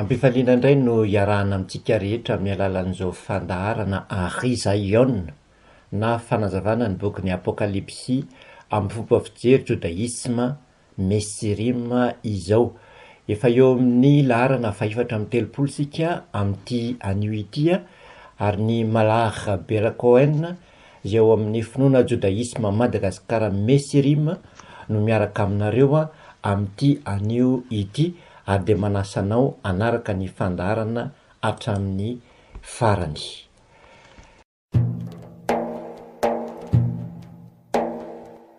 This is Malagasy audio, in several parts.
Am-pifaliana indray no iarahana amintsika rehetra amin'ny alalan'izao fandaharana Ry Zaiona na fanazavana ny bokin'ny Apokalypsy amin'ny fomba fijery jodaisma Messirim izao. Efa eo amin'ny laharana fahefatra amby telopolo isika amin'ity anio ity ary ny Malar Bera Cohen Izay ao amin'ny finoana jodaisma Madagascar Mesirim no miaraka aminareo amin'ity anio ity ary dia manasa anao hanaraka ny fandaharana hatramin'ny farany.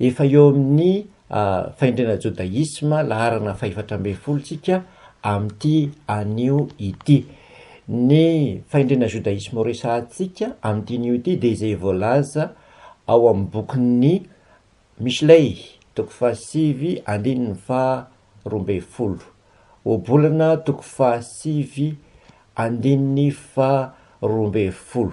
Efa eo amin'ny fahendrena jodaisma laharana fahefatra ambin'ny folo tsika amin'ity anio ity. Ny fahendrena jodaisma ho resahantsika amin'ity anio ity dia izay voalaza ao amin'ny bokin'ny Mishlei, toko fahasivy andininy faha roa ambin'ny folo, Ohabolana toko fahasivy andininy faha roa ambin'ny folo.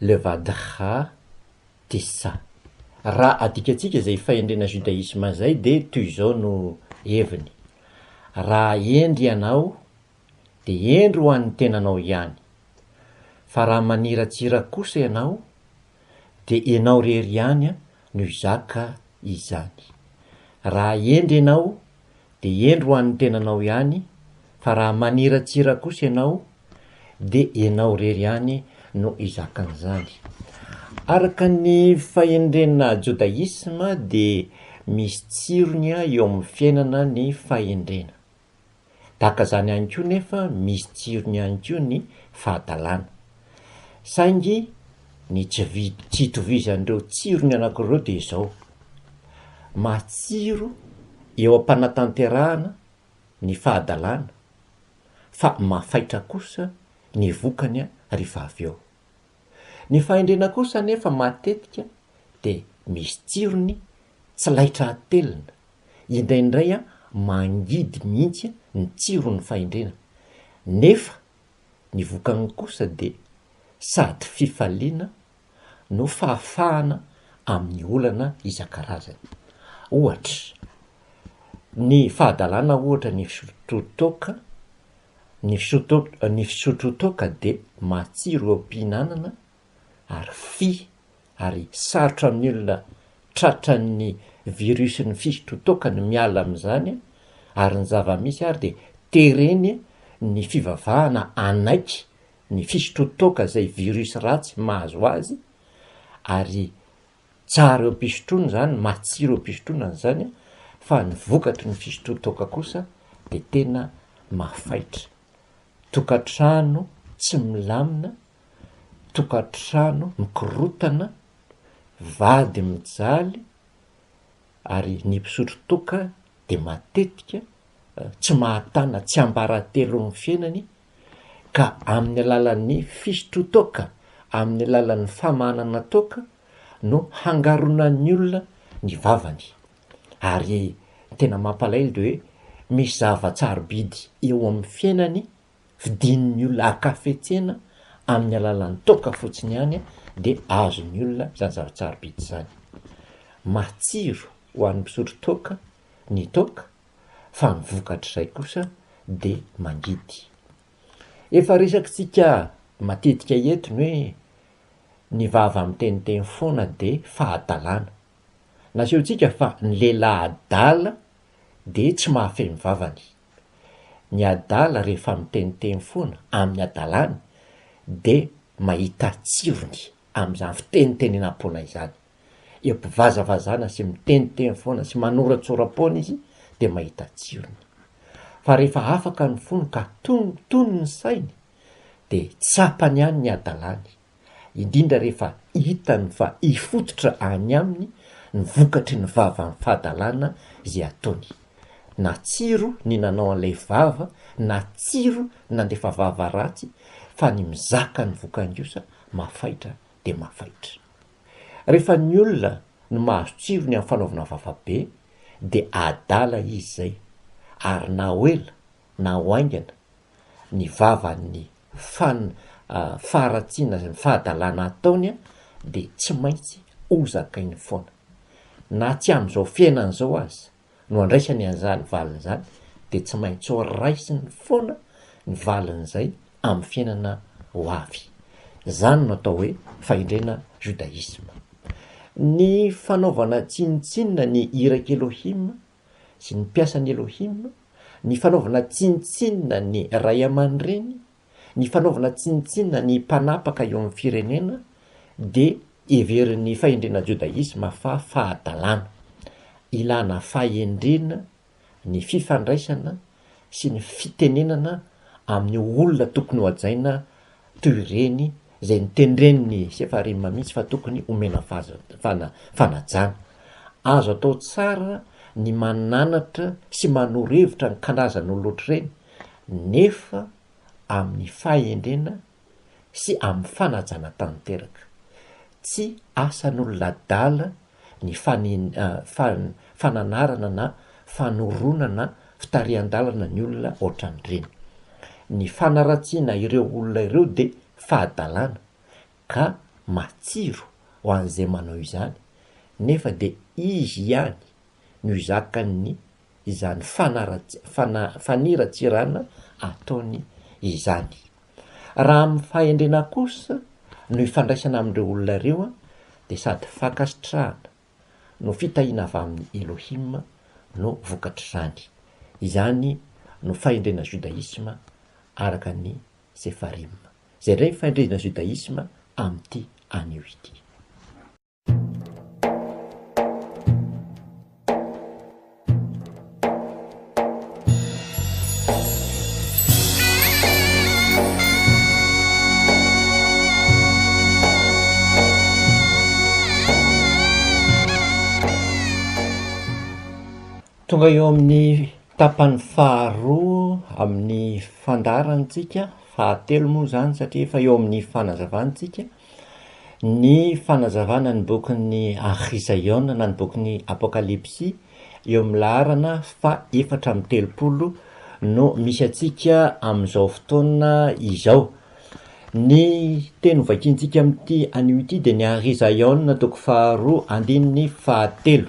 le vadkha tissa. Raha adikantsika izay fahendrena judaisme izay dia toy izao no heviny, Raha hendry ianao dia hendry ho an'ny tenanao ihany, fa raha maniratsira kosa ianao dia ianao irery ihany no hizaka izany. Raha hendry ianao dia hendry ho an'ny tenanao ihany fa raha maniratsira kosa ianao dia ianao irery ihany no hizakan'izany. Araka ny fahendrenà jodaisma dia misy tsirony eo amin'ny fiainana ny fahendrena. Tahaka izany ihany koa nefa misy tsirony ihany koa ny fahadalàna. Saingy ny tsy tsy itovizan'ireo tsirony anankiroa dia izao, matsiro eo am-panatanterahana ny fahadalana fa mafaitra kosa ny vokany rehefa avy eo. Ny fahendrena kosa anefa matetika dia misy tsirony tsy laitra atelina, indraindray mangidy mihitsy ny tsiron'ny fahendrena, nefa Ny vokany kosa dia sady fifaliana no fahafahana amin'ny olana isan-karazany. Ohatra, ny fahadalana ohatra ny fisotro toaka, ny fisotro ny fisotro toaka dia matsiro eo am-pihinanana ary fy ary sarotra amin'ny olona tratran'ny virusin'ny fisotrotoaka ny miala amin'izany ary ny zava-misy ary dia tereny ny fivavahana hanaiky ny fisotrotoaka izay virus ratsy mahazo azy ary tsara eo am-pisotroana izany, matsiro eo am-pisotroana izany fa ny vokatry ny fisotrotoaka kosa dia tena mafaitra. Tokantrano tsy milamina tokantrano mikorontana, vady mijaly ary ny mpisotro toaka dia matetika tsy mahatana tsiambaratelon'ny fiainany ka amin'ny alalan'ny fisotroan-toaka, amin'ny alalan'ny famahanana toaka no hangaronan'ny olona ny vavany ary tena mampalahelo dia hoe misy zava-tsarobidy eo amin'ny fiainany vidian'ny olona an-kafetsena amin'ny alalan'ny toaka fotsiny ihany dia azon'ny olona izany zavatra sarobidy izany. Matsiro ho an'ny mpisotro toaka ny toaka fa ny vokatr'izay kosa dia mangidy. Efa resakintsika matetika eto ny hoe ny vava miteniteny foana dia fahadalana. Nasehontsika fa ny lehilahy adala dia tsy mahafehy ny vavany. Ny adala rehefa miteniteny foana amin'ny adalany dia mahita tsirony amin'izany fitenitenenam-poana izany. Empivazavazana sy miteniteny foana sy manoratsoram-poana izy dia mahita tsirony. Fa rehefa afaka ny fony ka tonony ny sainy dia tsapany ihany ny adalany. indrindra rehefa hitany fa hifototra any aminy ny vokatry ny vavan'ny fahadalana izay ataony. Natsiro ny nanao an'ilay vava, natsiro ny nandefa vava ratsy, fa ny mizaka ny vokan-giosa mafaitra dia mafaitra. Rehefa ny olona no mahazo tsirony amin'ny fanaovana vava be dia adala izy izay, ary na ho ela na ho haingana, ny vavan'ny fan faharatsiana sy ny fahadalana ataony dia tsy maintsy ho zakainy foana. Na tsy amin'izao fiainana izao aza no andraisany an'izany valiny izany dia tsy maintsy ho raisiny foana ny valin'izay amin'ny fiainana ho avy. Izany no atao hoe fahendrena judaisme. Ny fanaovana tsinontsinona ny iraky Elohim sy ny mpiasan'i Elohim, ny fanaovana tsinontsinona ny ray aman-dreny, ny fanaovana tsinontsinona ny mpanapaka eo amin'ny firenena, dia heverin'ny fahendrena jodaisma fa fahadalana. Ilana fahendrena ny fifandraisana sy ny fitenenana amin'ny olona tokony hohajaina toy ireny izay notendren'ny Sefarim mihitsy fa tokony omena fahazavana, fanajana. Azo atao tsara ny mananatra sy manoro hevitra ny karazan'olon'ohatr'ireny nefa amin'ny fahendrena sy amin'ny fanajana tanteraka. Tsy asan'olona adala ny fananarana na fanoronana fitarihan-dalana ny olona ohatran'ireny. Ny fanaratsiana ireo olona ireo dia fahadalana ka matsiro ho an'izay manao izany nefa dia izy ihany no zakan'ny izany faniratsirana ataony izany. Raha amin'ny fahendrena kosa no ifandraisana amin'ireo olona ireo dia sady fankasitrahana no fitahiana avy amin'i Elohim no vokatr'izany. Izany no fahendrena judaisme araka ny Sefarim. Izay indray ny fahendrena judaisme amin'ity anio ity. Tonga eo amin'ny tapany faharoa amin'ny fandaharantsika, fahatelo moa izany satria efa eo amin'ny fanazavana isika. Ny fanazavana ny bokin'ny Archizaiona na ny bokin'ny Apokalypsy eo amin'ny laharana fahefatra amby telopolo no misy antsika amin'izao fotoana izao. Ny teny hovakiantsika amin'ity anio ity dia ny Arhizaiona toko faharoa andininy fahatelo.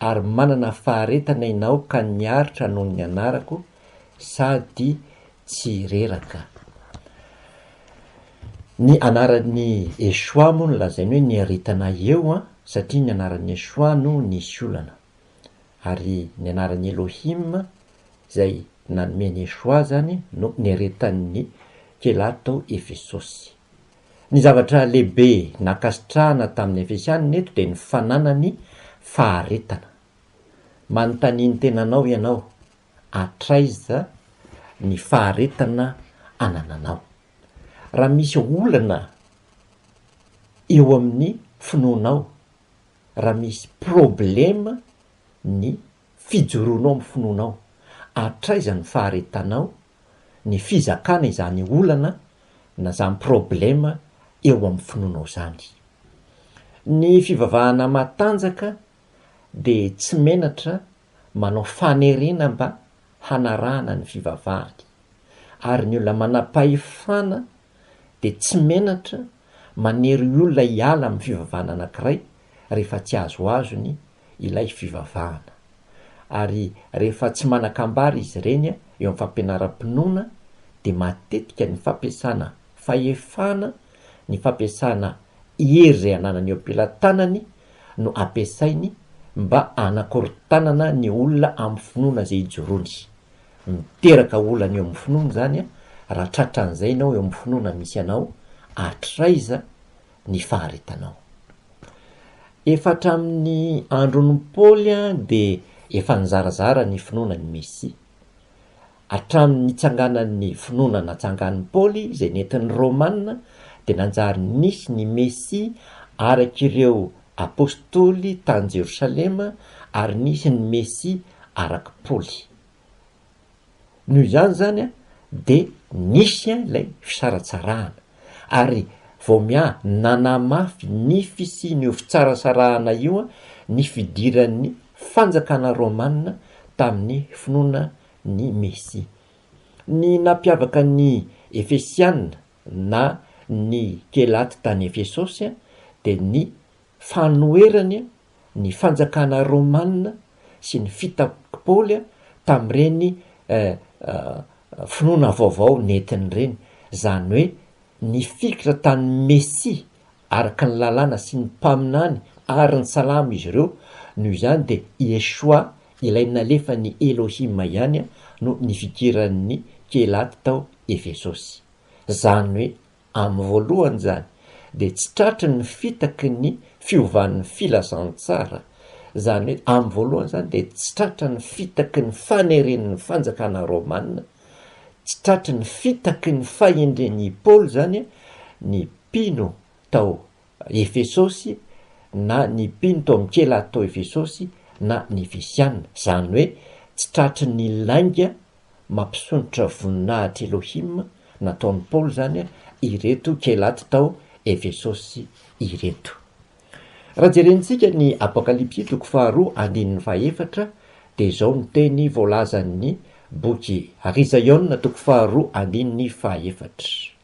ary manana faharetana ianao ka niaritra noho ny anarako sady tsy reraka. Ny anaran'i Yeshua moa no lazainy hoe niaritana eo an, satria ny anaran'i Yeshua no nisy olana. Ary ny anaran'i Elohim izay nanome an'i Yeshua izany no niaretan'ny mpilato tao Efesosy. Ny zavatra lehibe nankasitrahana tamin'ny Efesianina eto dia ny fananany faharetana. Manontania ny tenanao ianao, Hatraiza ny faharetana anananao? Raha misy olana eo amin'ny finoanao, raha misy problema ny fijoroanao amin'ny finoanao, hatraiza ny faharetanao ny fizakana izany olana na izany problema eo amin'ny finoanao izany. Ny fivavahana matanjaka dia tsy menatra manao fanerena mba hanarahana ny fivavahany, ary ny olona manam-pahefana dia tsy menatra manery olona hiala amin'ny fivavahana anankiray rehefa tsy azoazony ilay fivavahana. Ary rehefa tsy manan-kambara izy ireny eo amin'ny fampianaram-pinoana dia matetika ny fampiasana fahefana, ny fampiasana hery izay ananany eo am-pelatanany no ampiasainy mba hanakorontanana ny olona amin'ny finoana izay ijoroany. Miteraka olana eo amin'ny finoana izany raha tratran'izay ianao eo amin'ny finoana misy anao, hatraiza ny faharetanao. Efa hatramin'ny andron'i Paoly dia efa nizarazara ny finoana an'i Mesia. Hatramin'ny nitsanganan'ny finoana natsangan'i Paoly izay nentin'ny Romana dia nanjary nisy ny Mesia araka ireo Apostoly tany Jerosalema ary nisy ny Mesia arak'i Paoly. Noho izany izany an, dia nisy an ilay fisaratsarahana, ary vao miaha nanamafy ny fisian'io fitsarasarahana io an ny fidiran'ny fanjakana romana tamin'ny finoana ny Mesia. Ny nampiavaka ny Efesiana na ny Kelaty tany Efesosy an dia ny fanoherany ny fanjakana romana sy ny fitaky Paoly tamin'ireny finoana vaovao nentiny ireny, izany hoe nifikitra tany Mesia araka ny lalàna sy ny mpaminany ary ny salamo izy ireo, noho izany dia Yeshua ilay nalefan'i Elohim ihany no nifikiran'ny Kelaty tao Efesosy, izany hoe Amin'ny voalohany izany dia tsy tratry ny fitaky ny fiovan'ny filazantsara, izany hoe amin'ny voalohany izany dia tsy tratra ny fitaky ny faneren'ny fanjakana romana, tsy tratry ny fitaky ny fahendren'i Paoly izany ny mpino tao Efesosy na ny mpino tao amin'ny kilato tao Efesosy na ny Efesiana, izany hoe tsy tratry ny lainga mampisondrotra voninahitr' Elohim nataon' i Paoly izany ireto Kelaty tao Efesosy ireto. Raha jerentsika ny Apokalypsy toko faharoa andininy fahefatra dia izao ny teny voalazan' ny boky Ry Zaiona toko faharoa andininy fahefatra.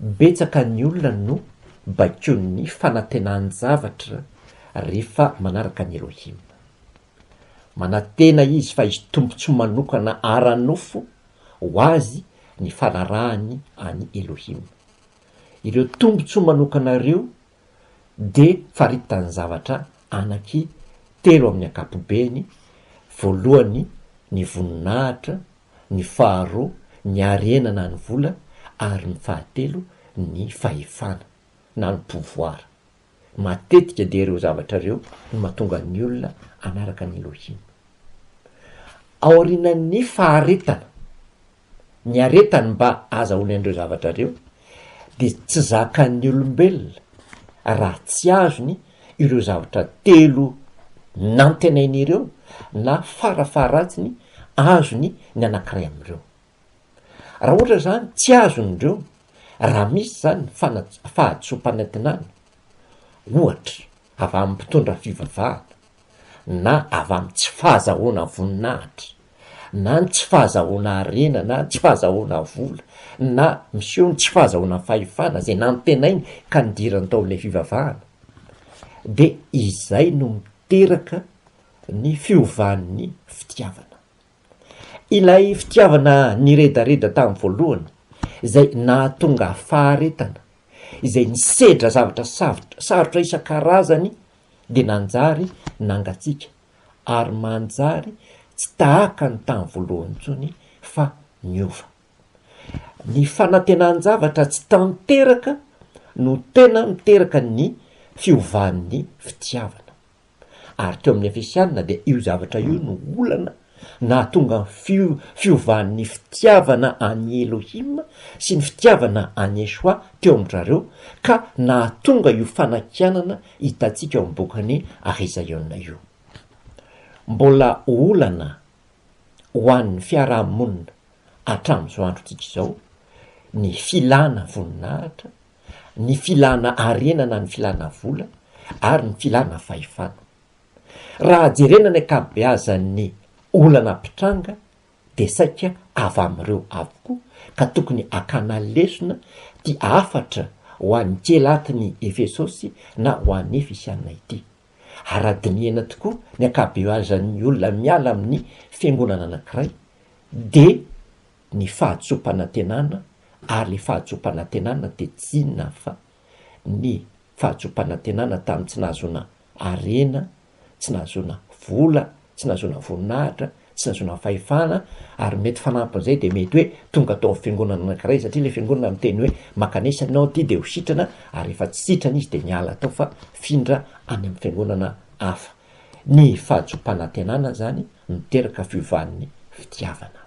Betsaka ny olona no baikoin'ny fanantenan-javatra rehefa manaraka an'i Elohim. Manantena izy fa hisy tombontsoa manokana ara-nofo ho azy ny fanarahany an'i Elohim. Ireo tombontsoa manokana ireo dia faritany zavatra anaky telo amin'ny ankapobeny, voalohany ny voninahitra, ny faharoa ny harena na ny vola ary ny fahatelo ny fahefana na ny pouvoir. Matetika dia ireo zavatra ireo no mahatonga ny olona hanaraka an'i Elohim. Aorianan'ny faharetana. ny aretany mba azahoany an'ireo zavatra ireo dia tsy zakan'ny olombelona raha tsy azony ireo zavatra telo nantenainy ireo na farafaharatsiny azony ny anankiray amin'ireo. Raha ohatra izany tsy azony ireo, raha misy izany ny fana- fahadisoam-panantenana, ohatra avy amin'ny mpitondra fivavahana, na avy amin'ny tsy fahazahoana voninahitra, na ny tsy fahazahoana harena, na ny tsy fahazahoana vola, na miseho ny tsy fahazahoana fahefana, izay nantenainy ka nidirany tao amin'ilay fivavahana, dia izay no miteraka ny fiovan'ny fitiavana. Ilay fitiavana niredareda tamin'ny voalohany, izay nahatonga faharetana, izay nisedra zavatra sarotra isan-karazany dia nanjary nangatsiaka ary manjary tsy tahaka ny tamin'ny voalohany intsony fa niova. Ny fanantenan-javatra tsy tanteraka no tena miteraka ny fiovan'ny fitiavana. Ary teo amin'ny Efesiana dia io zavatra io no olana nahatonga ny fiovan'ny fitiavana an'i Elohim sy ny fitiavana an'i Yeshua teo amin-drareo ka nahatonga io fanakianana hitantsika ao amin'ny bokin'i Ahizaiona io. Mbola olana ho an'ny fiaraha-monina hatramin'izao androntsika izao ny filana voninahitra, ny filana harena na ny filana vola ary ny filana fahefana. Raha jerena ny ankabeazan'ny olana mpitranga dia saika avy amin'ireo avokoa ka tokony hakana lesona ty hafatra ho an'ny kely atin'ny Efesosy na ho an'ny Efisiana ity. Ara-dinihana tokoa ny ankabeazan'ny olona miala amin'ny fiangonana anankiray dia ny fahatsoam-panantenana ary ilay fahatsoam-panantenana dia tsy inona fa ny fahazoam-panantenana tamin'ny tsy nahazoana harena, tsy nahazoana vola, tsy nahazoana voninahitra, tsy nahazoana fahefana, ary mety fanampin'izay dia mety hoe tonga tao amin'ny fiangonana anankiray satria ilay fiangonana miteny hoe makanesa ianao aty dia ho sitrana ary rehefa tsy sitrana izy dia miala tao fa mifindra any amin'ny fiangonana hafa. Ny fahazoam-panantenana izany miteraka fiovan'ny fitiavana.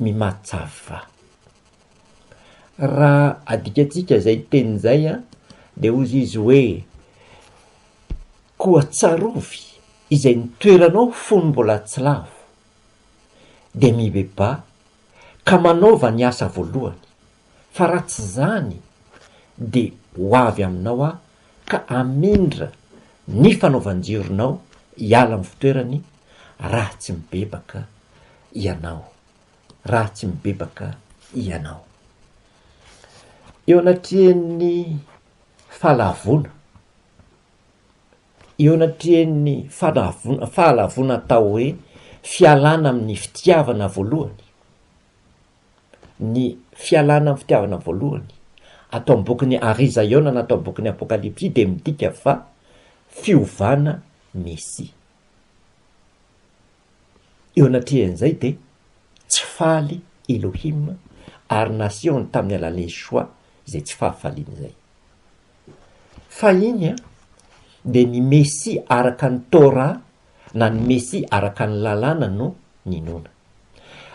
mimatsava. Raha adikantsika izay teny izay dia hozy izy hoe, koa tsarovy izay nitoeranao fony mbola tsy lavo, dia mibebaha ka manaova ny asa voalohany, fa raha tsy izany dia ho avy aminao aho ka hamindra ny fanaovan-jironao hiala amin'ny fitoerany raha tsy mibebaka ianao, raha tsy mibebaka ianao. Eo anatrehan'ny fahalavoana, eo anatrehan'ny fahalavoana, fahalavoana atao hoe fialana amin'ny fitiavana voalohany, ny fialana amin'ny fitiavana voalohany, ato amin'ny bokin'i Arizaiona na ato amin'ny bokin'ny Apokalypsy dia midika fa fiovana Mesia. Eo anatrehan'izay dia tsy faly Elohim ary nasehony tamin'ny alalan'i Yeshua izay tsy fahafaliany izay. Fahiny dia ny Mesia araka ny Torah na ny Mesia araka ny Lalàna no ninoana.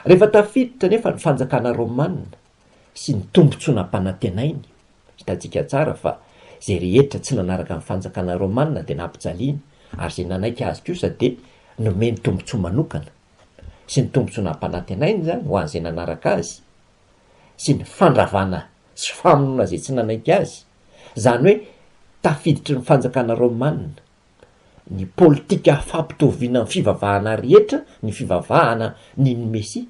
Rehefa tafiditra anefa ny fanjakana romanina sy ny tombontsoa nampanantenainy, hitantsika tsara fa izay rehetra tsy nanaraka ny fanjakana romanina dia nampijaliana ary izay nanaiky azy kosa dia nomeny tombontsoa manokana sy ny tombontsoa nampanantenainy izany ho an'izay nanaraka azy sy ny fandravana sy famonoana izay tsy nanaiky azy, izany hoe tafiditry ny fanjakana romanina. ny politika fampitoviana ny fivavahana rehetra ny fivavahana ny ny Mesia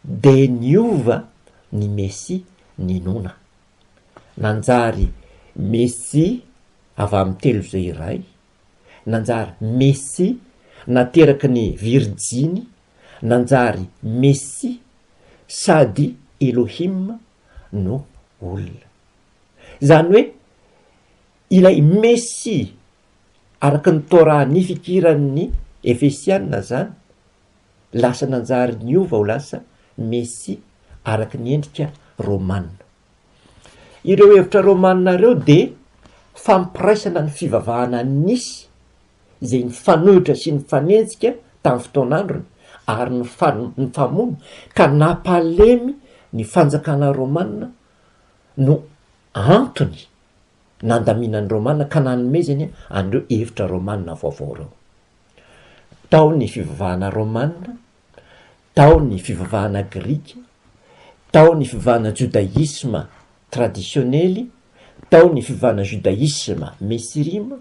de niova ny Mesia ninoana nanjary Mesia avy amin'ny telo izay iray nanjary Mesia nateraky ny virjiny nanjary Mesia sady Elohim no olona izany hoe Ilay Mesia araka ny Torah nifikiran'ny Efesiana izany lasa nanjary niova ho lasa Mesia araka ny endrika Romana. Ireo hevitra Romana ireo dia fampiraisana ny fivavahana nisy izay nifanohitra sy nifanenjika tamin'ny fotoan'androny ary nifamono ka nampalemy ny fanjakana Romana no antony nandaminan'ny Romana ka nanomezany an'ireo hevitra Romana vaovao ireo. Tao ny fivavahana Romana, tao ny fivavahana grika, tao ny fivavahana jodaisma tradisionely, tao ny fivavahana jodaisma mesirima,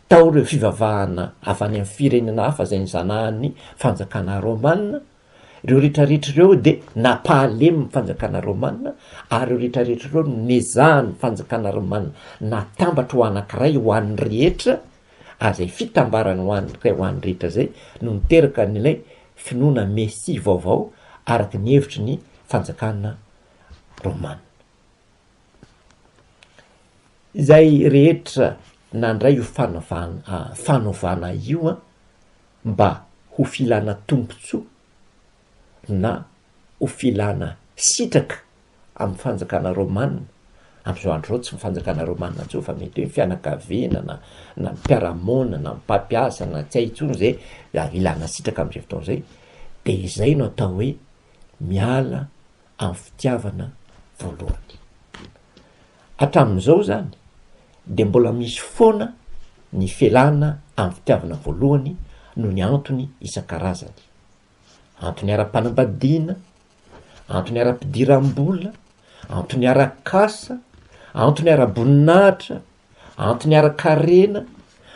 tao ireo fivavahana avy any amin'ny firenena hafa izay nizanahan'ny fanjakana Romana, Ireo rehetra rehetra ireo dia nampahalemin'ny fanjakana romana, ary ireo rehetra rehetra ireo no nezahan'ny fanjakana romana natambatra ho anankiray ho an'ny rehetra, ary izay fitambarana ho an'ireo ho an'ny rehetra izay no niteraka an'ilay finoana Mesia vaovao araka ny hevitry ny fanjakana romana. Izay rehetra nandray io fanavana- fanovana io an. mba ho filana tombontsoa na ho filana sitraka amin'ny fanjakana romana, amin'izao andro izao tsy ny fanjakana romana intsony fa mety hoe ny fianakaviana na na ny mpiara-monina na ny mpampiasa na tsy hay intsony izay raha ilana sitraka amin'izay fotoana izay dia izay no atao hoe miala amin'ny fitiavana voalohany. Hatramin'izao izany dia mbola misy foana ny felana amin'ny fitiavana voalohany noho ny antony isan-karazany. Antony ara-panambadiana, antony ara-pidiram-bola, antony ara-kasa, antony ara-boninahitra, antony ara-karena,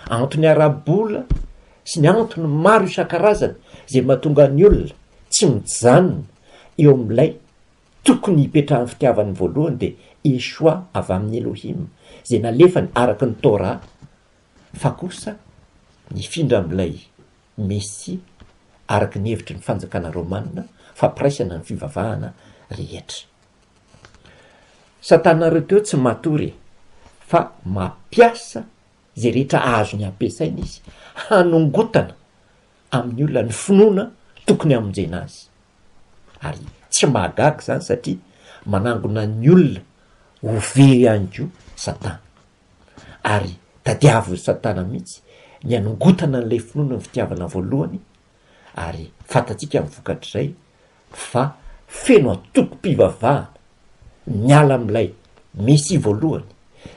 antony ara-bola sy ny antony maro isan-karazany izay mahatonga ny olona tsy mijanona eo amin'ilay tokony hipetrahan'ny fitiavany voalohany dia Yeshua avy amin'ny Elohim izay nalefany araka ny Torah fa kosa nifindra amin'ilay Mesia araka ny hevitry ny fanjakana Romana fampiraisana ny fivavahana rehetra. Satana ireo teo tsy matory e! fa mampiasa izay rehetra azony ampiasaina izy hanongotana amin'ny olona ny finoana tokony hamonjena azy. Ary tsy mahagaga izany satria manangona ny olona ho very ihany koa Satana. Ary tadiavin'i Satana mihitsy ny hanongotana an'ilay finoana ny fitiavana voalohany ary fantatsika ny vokatr'izay fa feno antokom-pivavahana miala amin'ilay Mesia voalohany,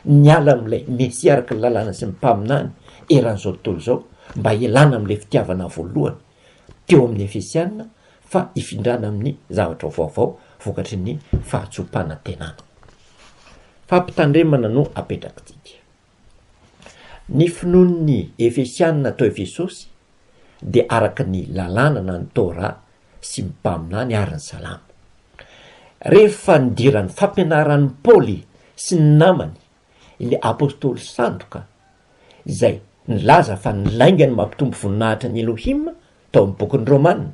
miala amin'ilay Mesia araka ny lalàna sy ny mpaminany eran'izao tontolo izao mba hialana amin'ilay fitiavana voalohany teo amin'ny Efesiana fa hifindrana amin'ny zavatra vaovao vokatry ny fahatsoam-panantenana. Fampitandremana no apetrak'ity dia. Ny finoan'ny Efesiana tao Efesosy dia araka ny Lalàna na ny Torah sy ny Mpaminany ary ny Salamo. Rehefa nidiran'ny fampianaran'i Paoly sy ny namany ilay apostoly sandoka izay nilaza fa ny laingany mampitombo voninahitra an'i Elohim tao amin'ny bokin'ny Romana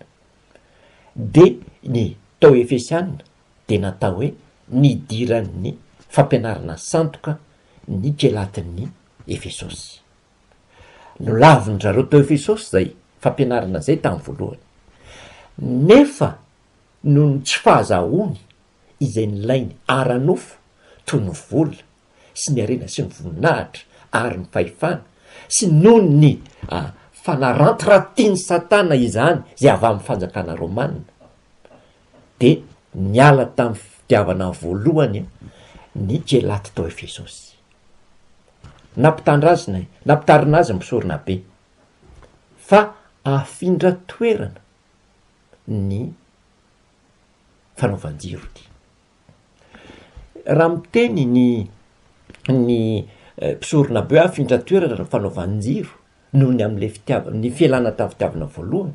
dia ny tao Efesiana dia natao hoe nidiran'ny fampianarana sandoka ny kilatin'ny Efesosy. Nolavin'ny zareo tao Efesosy izay fampianarana izay tamin'ny voalohany, nefa noho ny tsy fahazahoany izay nilainy ara-nofo toy ny vola sy ny harena sy ny voninahitra ary ny fahefana, sy noho ny fanarantiratin'i Satana izany izay avy amin'ny fanjakana romanina, de niala tamin'ny fitiavana voalohany ny kilaty tao Efesosy. Nampitandrazina, nampitarina azy ny mpisorona be fa afindra toerana ny fanaovan-jiro ity. Raha miteny ny ny mpisorona be afindra toerana ny fanaovan-jiro noho ny amin'ilay fitiavana, ny fialana tamin'ny fitiavana voalohany.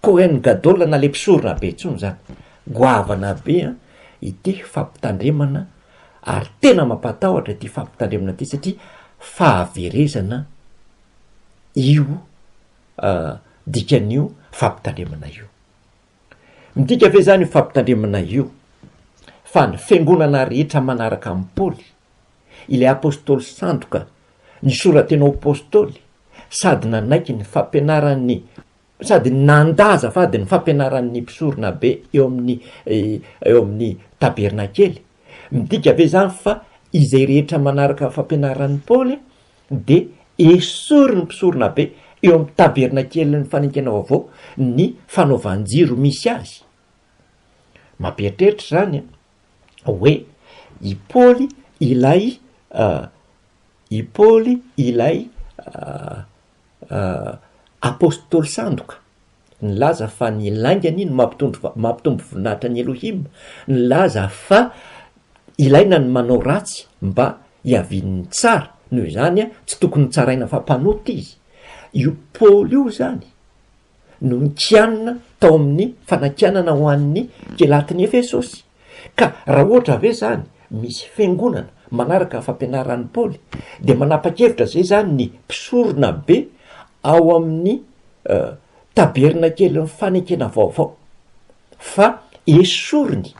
Kohen Gadol na le mpisorona be intsony izany. Goavana be an ity fampitandremana ary tena mampatahotra ity fampitandremana ity satria fahaverezana io dikan'io fampitandremana io. Midika ve izany io fampitandremana io fa ny fiangonana rehetra manaraka an'i Paoly, ilay apostoly sandoka nisora-tena ho apostoly sady nanaiky ny fampianaran'ny sady nanda azafady ny fampianaran'ny mpisoronabe eo amin'ny eo amin'ny tabernakely. Midika ve izany fa izay rehetra manaraka ny fampianaran'i Paoly dia esorin'ny mpisoronabe eo amin'ny tabernakelin'ny fanekena vaovao ny fanaovan-jiro misy azy? Mampieritreritra izany hoe i Paoly ilay i Paoly ilay Apostoly sandoka nilaza fa ny lainga anie no mampitombo voninahitra an'i Elohim, nilaza fa ilaina ny manao ratsy mba hiavian'ny tsara, noho izany tsy tokony hotsaraina fa mpanota izy. Io Paoly io izany no nikianina tao amin'ny fanakianana ho an'ny kilatin'i Efesosy. Ka raha ohatra ve zany misy fiangonana manaraka fampianaran'i Paoly dia manapa-kevitra zay zany ny mpisorona be ao amin'ny tabernakelin'ny fanekena vaovao fa esoriny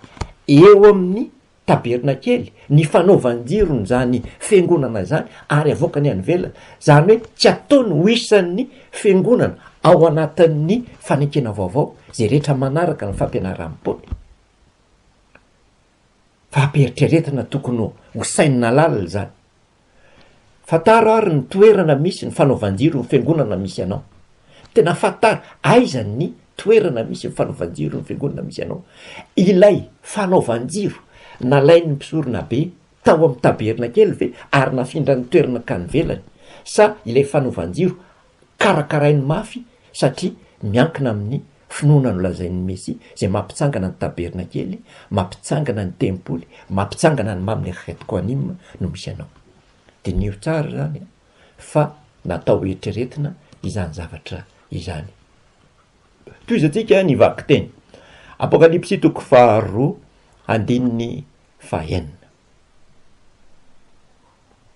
eo amin'ny tabernakely ny fanaovan-jirony zany fiangonana zany ary avoakany any ivelany zany hoe tsy ataony ho isan'ny fiangonana ao anatin'ny fanekena vaovao zay rehetra manaraka ny fampianaran'i Paoly. Fampieritreretana tokony ho sainina lalina izany. Fantaro ary ny toerana misy ny fanaovan-jiro ny fiangonana misy anao. Tena fantaro aiza ny toerana misy ny fanaovan-jiro ny fiangonana misy anao. Ilay fanaovan-jiro nalain'ny mpisorona be tao amin'ny tabernakely ve ary nafindra ny toerana ankany ivelany sa ilay fanaovan-jiro karakarainy mafy satria miankina amin'ny finoana nolazain'ny Mesia izay mampitsangana ny tabernakely, mampitsangana ny tempoly, mampitsangana ny Mamle Chet Quanim no misy anao. Diniho tsara izany fa natao hoeritreretina izany zavatra izany. Tohizantsika ny vakiteny. Apokalypsy toko faharoa andininy fahenina.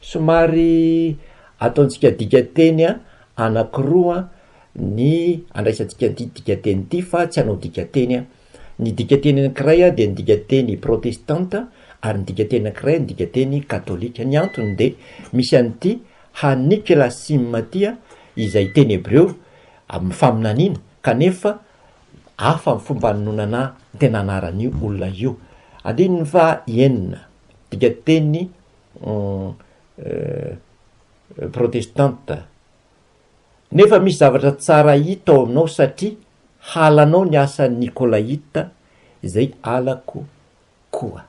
Somary ataontsika dikanteny anankiroa ny andraisantsika ity dikanteny ity fa tsy hanao dikanteny aho. Ny dikanteny anankiray dia ny dikanteny protestanta ary ny dikanteny anankiray ny dikanteny katolika. Ny antony dia misy an'ity haniklasim ity izay teny hebreo amin'ny faminaniana kanefa hafa ny fomba nanonana ny tena anaran'io olona io. Andininy faha enina. dikateny protestanta. Nefa misy zavatra tsara hita ao aminao satria halanao ny asan'ny Nikolaita izay halako koa.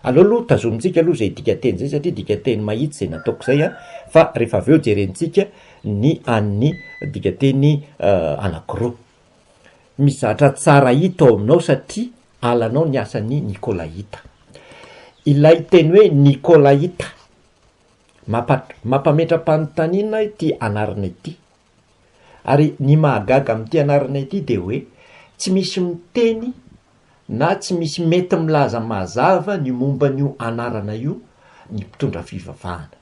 Aleo aloha tazomintsika aloha izay dikateny izay satria dikateny mahitsy izay nataoko izay an, fa rehefa avy eo jerentsika ny an'ny dikateny anankiroa. Mizatra tsara hita ao aminao satria alanao ny asan'ny Nikolaita. Ilay teny hoe Nikolaita, mampametra-panontaniana ity anarana ity. Ary ny mahagaga amin'ity anarana ity dia hoe tsy misy miteny na tsy misy mety milaza mazava ny momba an'io anarana io ny mpitondra fivavahana.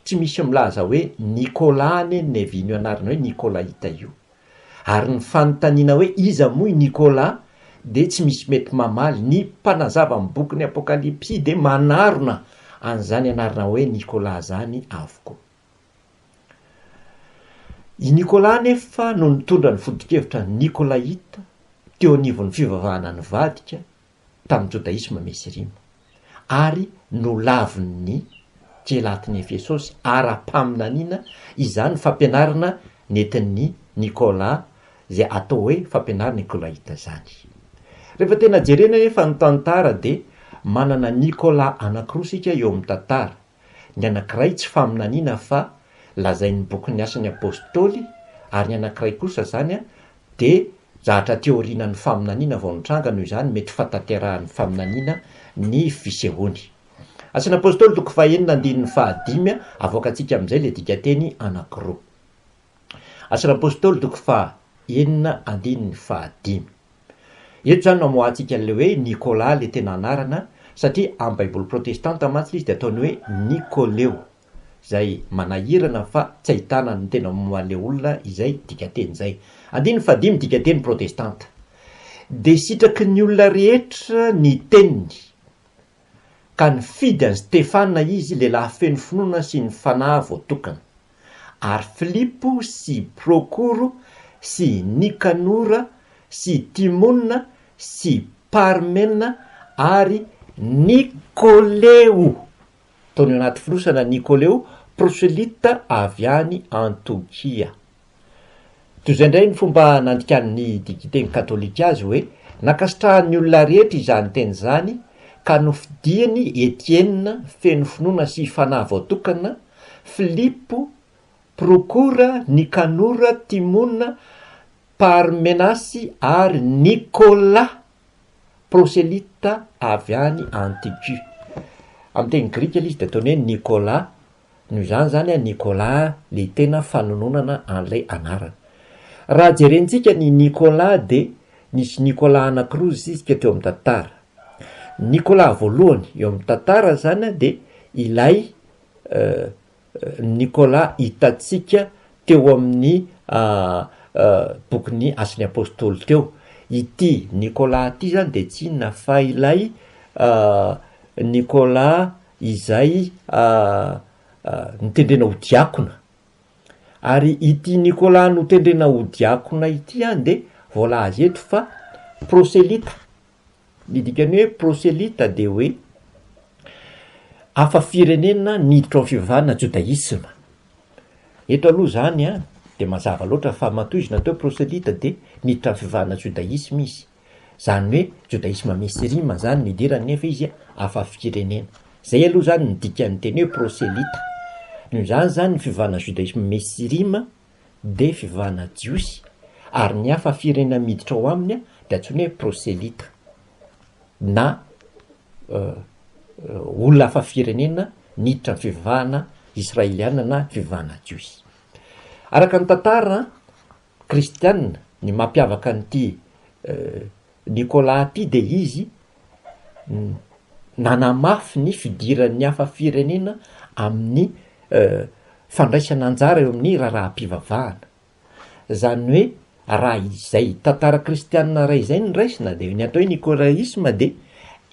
tsy misy milaza hoe Nicolas anie ny nevin'io anarana hoe Nicolaita io. Ary ny fanontaniana hoe iza moa i Nicolas dia tsy misy mety mamaly, ny mpanazava ny bokin'ny Apokalypsy dia manarona an'izany anarana hoe Nicolas izany avokoa. I Nicolas anefa no nitondra ny foto-kevitra Nicolaita teo anivon'ny fivavahana nivadika tamin'ny jodaisma misy rima, ary nolavin'ny Kielatin'i Efesosy ara-paminaniana izany fampianarana nentin'i Nikôla izay atao hoe fampianaran'ny Nikôlaita izany. Rehefa tena jerena anefa ny tantara dia manana Nikôla anankiroa isika eo amin'ny tantara, Ny anankiray tsy faminaniana fa lazain'ny bokin'ny Asan'ny Apôstôly ary ny anankiray kosa izany dia zahatra aty aorianan'ny faminaniana vao nitranga noho izany mety fahatanterahan'ny faminaniana ny fisehoany. Asan'ny Apôstôly toko fahenina andininy fahadimy, avoakantsika amin'izay ilay dikanteny anankiroa. Asan'ny Apostoly toko faha enina andininy faha dimy. Eto izany no amoahantsika an'ilay hoe Nikola ilay tena anarana satria amin'ny baiboly protestanta mantsy ilay izy dia ataony hoe Nikoleo izay manahirana fa tsy ahitana ny tena moan'ilay olona izay dikanteny izay. Andininy faha dimy dikanteny protestanta. Dia sitraky ny olona rehetra ny teniny. ka nifidy an'i Stefana izy, lehilahy feno finoana sy ny fanahy voatokana, ary Filipo sy Prokoro sy Nikanora sy Timona sy Parmena ary Nikoleo, tony anaty fonosana, Nikoleo, proselyta avy any Antiokia. Toy izay indray ny fomba nandikan'ny digiteny katolika azy hoe, Nankasitrahan'ny olona rehetra izany teny izany, ka nofidiny Etiena, feno finoana sy fanahy voatokana, Filipo, Prokora, Nikanora, Timona, Parmenasy, ary Nikola, proselyta avy any Antiokia. Amin'ny teny grika ilay izy dia ataony hoe Nikola, Noho izany izany an Nicolas an, le tena fanononana an'ilay anarana. Raha jerentsika ny Nicolas dia nisy Nicolas anakiroa zizika teo amin'ny tantara. Ny Nicolas voalohany eo amin'ny tantara izany an dia ilay Nicolas hitantsika teo amin'ny bokin'ny Asan'ny Apostoly teo. Ity Nicolas ity izany dia tsy inona fa ilay Nicolas izay notendrena ho diakona. Ary ity Nicolas notendrena ho diakona ity dia voalaza eto fa proselyta. Ny dikan'ny hoe proselyta dia hoe hafa firenena niditra ao amin'ny fivavahana jodaisma. Eto aloha izany dia mazava loatra fa matoa izy natao hoe proselyta dia niditra amin'ny fivavahana jodaisma izy. Zany hoe Jodaisme Mesirima zany ny idirany nefa izy hafa firenena. Zay aloha zany ny dikan'ny teny hoe proselita. Noho izany zany ny fivavahana Jodaisme Mesirima dia fivavahana jiosy ary ny hafa firenena miditra ao aminy dia antsoina hoe proselita na olona hafa firenena niditra ny fivavahana Israeliana na fivavahana jiosy. Araka ny tantara kristianina, ny mampiavaka an'ity Nicolas ity de izy nanamafy ny fidiran'ny hafa firenena amin'ny fandraisana anjara eo amin'ny raharaham-pivavahana, zany hoe raha izay tantara kristianina iray izay no raisina de ny atao hoe nicolaisme de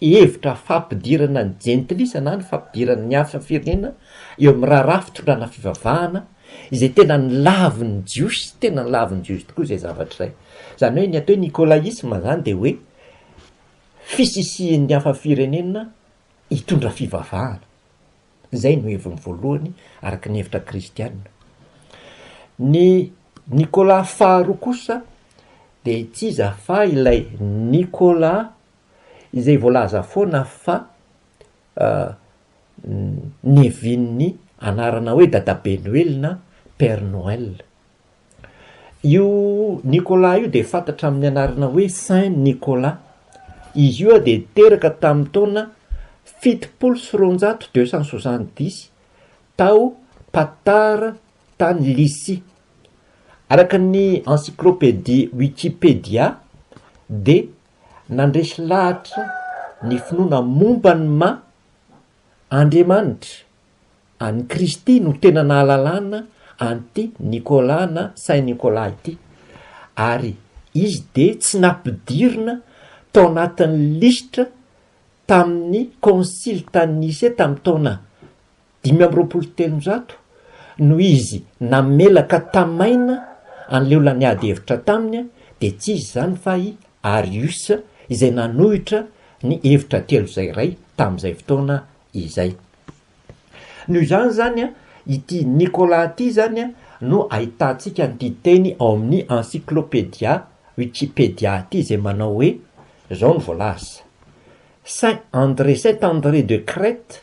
hevitra fampidirana ny jentilisa na ny fampidirana ny hafa firenena eo amin'ny raharaha fitondrana fivavahana izay tena nilavin'ny Jiosy, tena nilavin'ny Jiosy tokoa izay zavatra izay. Izany hoe ny atao hoe nikolaisma izany dia hoe fisisihin'ny hafa firenena hitondra fivavahana. Izay no heviny voalohany araka ny hevitra kristiana. Ny Nikola faharoa kosa dia tsy iza fa ilay Nikola izay voalaza foana fa nevin'ny anarana hoe Dadabe Noely na Père Noël. Io Nicolas io dia fantatra amin'ny anarana hoe Saint Nicolas. Izy io dia teraka tamin'ny taona fitopolo sy roanjato, deux cent soixante dix, tao Patar tany Lycie. Araka ny encyclopédie Wikipedia dia nandresy lahatra ny finoana momba ny maha Andriamanitra an'i Kristy no tena nahalalana an'ity Nicolas na Saint Nicolas ity ary izy dia tsy nampidirina tao anatin'ny lisitra tamin'ny Concile tany Nicée tamin'ny taona Dimy amby roapolo sy telonjato no izy namela ka tamaina an'i Leola niady hevitra taminy dia tsy iza izany fa i Arius izay nanohitra ny hevitra telo izay iray tamin'izay fotoana izay. Noho izany izany ity Nicolas ity izany no ahitantsika an'ity teny ao amin'ny Encyclopedia Wikipedia ity izay manao hoe izao no voalaza, Saint André, Saint André de Crète,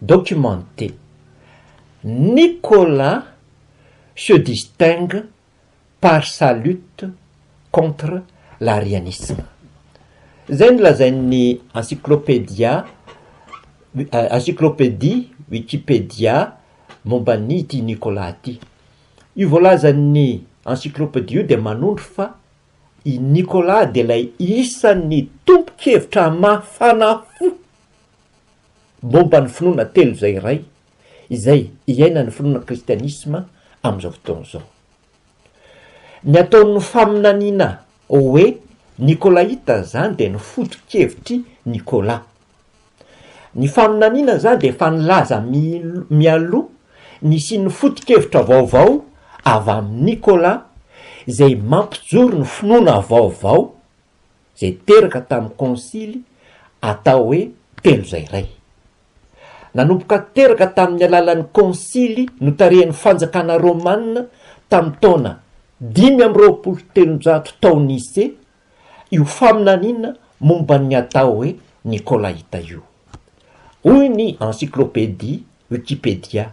documenté. Nicolas se distingue par sa lutte contre l'arianisme. Izay no lazain'ny encyclopedia, encyclopedie Wikipedia, momba an'ity Nicolas ity. Io voalazan'ny encyclopedia io dia manondro fa i Nicolas dia ilay isan'ny tompon-kevitra mafana fo, Momba ny finoana telo izay iray izay iainan'ny finoana kristianisma amin'izao fotoana izao. Ny ataon'ny faminaniana hoe Nikolaita izany dia ny foto-kevitr'i Nikola. Ny faminaniana izany dia efa nilaza mialoha ny hisian'ny foto-kevitra vaovao avy amin'i Nikola izay mampijoro ny finoana vaovao, izay teraka tamin'ny konsily atao hoe telo izay iray. Nanomboka teraka tamin'ny alalan'ny konsily notarihan'ny fanjakana romana tamin'ny taona dimy amby roapolo telonjato tao Nicée io faminaniana momba ny atao hoe Nikolaita io. Hoy ny Encyclopédie Wikipedia,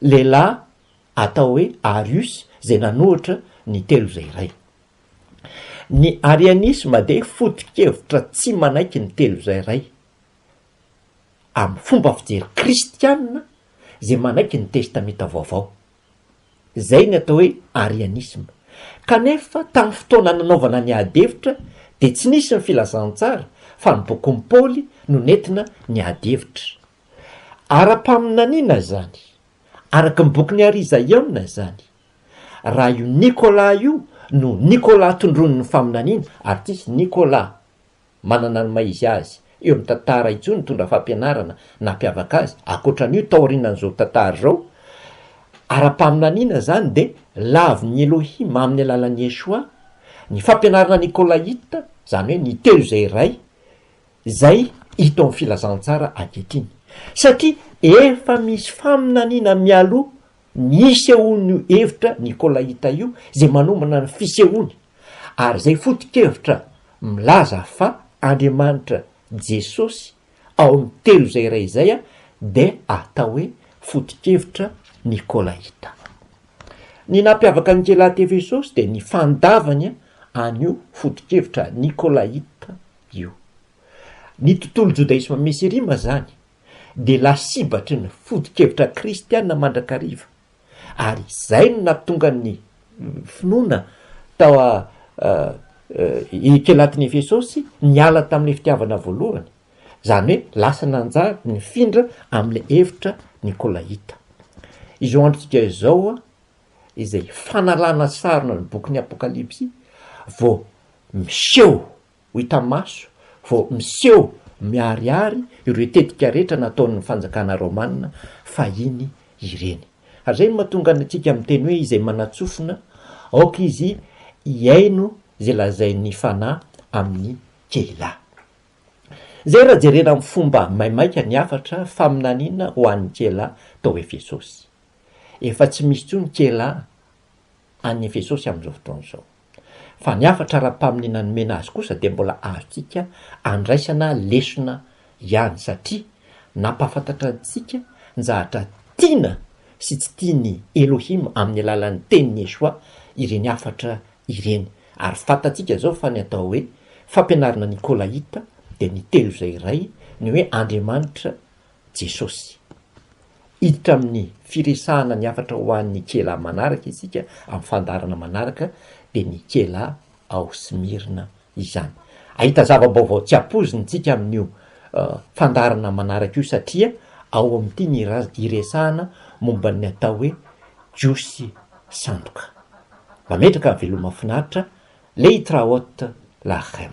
lehilahy atao hoe Arius izay nanohitra ny telo izay iray. Ny arianisma dia foto-kevitra tsy manaiky ny telo izay iray amin'ny fomba fijery kristiana izay manaiky ny Testamenta Vaovao. Izay ny atao hoe arianisma. Kanefa, tamin'ny fotoana nanaovana ny adihevitra dia tsy nisy ny Filazantsara fa ny bokin'i Paoly no nentina niady hevitra. Ara-paminaniana izany, araka ny bokin'i Ary Izaiona izany, raha io Nicolas io no Nicolas tondroin'ny faminaniana, ary tsy hisy Nicolas manana ny maha izy azy eo amin'ny tantara intsony nitondra fampianarana nampiavaka azy ankoatra an'io taorianan'izao tantara izao, ara-paminaniana izany dia lavin'ny Elohim amin'ny alalan'i Yeshua, ny fampianarana Nikolaita, izany hoe ny telo izay iray, Izay hita ao amin'ny filazantsara ankehitriny, satria efa misy faminaniana mialoha ny hisehoan'io hevitra nikôlaita io izay manomana ny fisehoany, ary izay foto-kevitra milaza fa Andriamanitra Jesosy ao amin'ny telo izay iray izay dia atao hoe foto-kevitra nikôlaita. Ny nampiavaka ny Kelatefesosy dia ny fandavany an'io foto-kevitra nikôlaita io. Ny tontolo jodaisma mesirima izany dia lasibatry ny foto-kevitra kristiana mandrakariva, ary izay no nahatonga ny finoana tao Ekelatin'i Efesosy niala tamin'ilay fitiavana voalohany, izany hoe lasa nanjary nifindra amin'ilay hevitra nikolaita. Izao androntsika izao, izay fanalana sarona ny bokin'ny Apokalypsy vao miseho ho hita maso, vao miseho miharihary ireo tetika rehetra nataon'ny fanjakana romana fahiny ireny. Ary izay no mahatonga antsika miteny hoe izay manatsofina, aoka izy hihaino izay lazain'ny Fanahy amin'ny Keilah. Izay raha jerena amin'ny fomba maimaika ny hafatra faminaniana ho an'ny Keilah tao Efesosy. Efa tsy misy intsony Kela any Efesosy amin'izao fotoana izao. Fa ny hafatra ara-paminiana nomena azy kosa dia mbola azontsika andraisana lesona ihany satria nampahafantatra antsika ny zavatra tiana sy tsy tian'i Elohim amin'ny alalan'ny tenin'i Yeshua ireny hafatra ireny. Ary fantatsika izao fa ny atao hoe fampianarana nikolaita dia ny Telo Izay Iray, ny hoe Andriamanitra Jesosy. Hiditra amin'ny firesahana ny hafatra ho an'ny Ikela manaraka isika amin'ny fandaharana manaraka, dia ny Ikela ao Smyrna izany. Hahita zava-baovao tsy ampoizina isika amin'io fandaharana manaraka io satria ao amin'ity ny iresahana momba ny atao hoe Jiosy sandoka. Mametraka veloma finaritra, Leitraot Lachem.